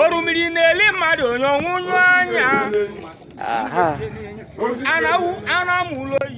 orimiri na-eli mmadụ onye ọnwụnyụ anya ana m ụlọ oyi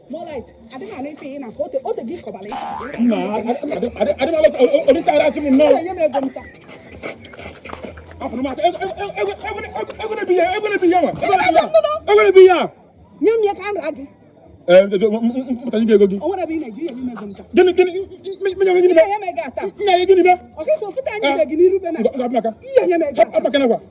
nye m ya ka m ra gị m pụta nye ego gị gịnị gịnị menye gịnị bịa nna ya gịnị bịa ọkịkọ pụta anyị gị n'iru be na abụmaka abụmaka nakwa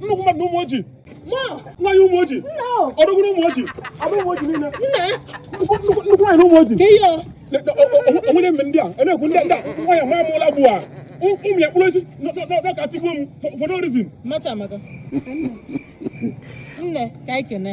nnukwu mmadụ ụmụoji nwaanyị ụmụoji odogwu ụmụoji abụ ụmụoji niile nnukwu nwaanyị na ụmụoji o nwere mme ndị a a na-ekwu ndị a nwaanyị nwa amụla bụ a ụmụ ya kpụrụ osisi n'aka tigbuo m for no reason nne ka anyị kene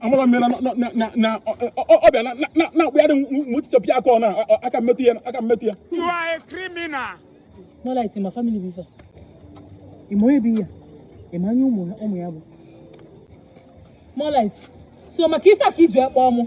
amara m na ọ bịa na-akpụgharị m tichapụ aka ọ na aka mmetụ ya aka mmetụ ya You are a criminal. no light in my family before ị ma onye bụ ihe ị ma onye ụmụ ya bụ more light so maka ife a ka i ji akpọ mụ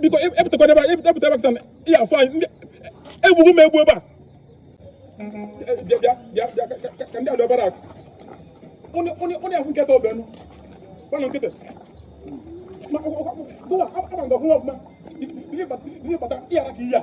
biko epụtakwa ebe a epụta ebe a ihe afọ anyị ndị egbugbu m egbu ebe a bịa bịa bịa bịa ka ndị adọ barrack ụnụ ya afụ nketa ọbịa nụ gbanụ nkịtị gụwa ama nga ọhụrụ ọfụma ihe bata ihe ara ka ihe a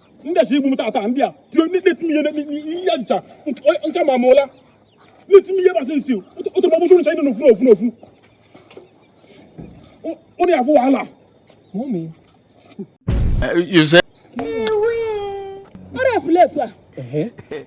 ndị a chọ igbu m taata ndị a tiri na-eti m ihe ha ncha nke ma mụla na-eti m ihe basị nsi otu ma ọbụchụ ncha ịnụ n'ofu n'ofu n'ofu ụnụ ya afụ wahala ọrịa efulefu a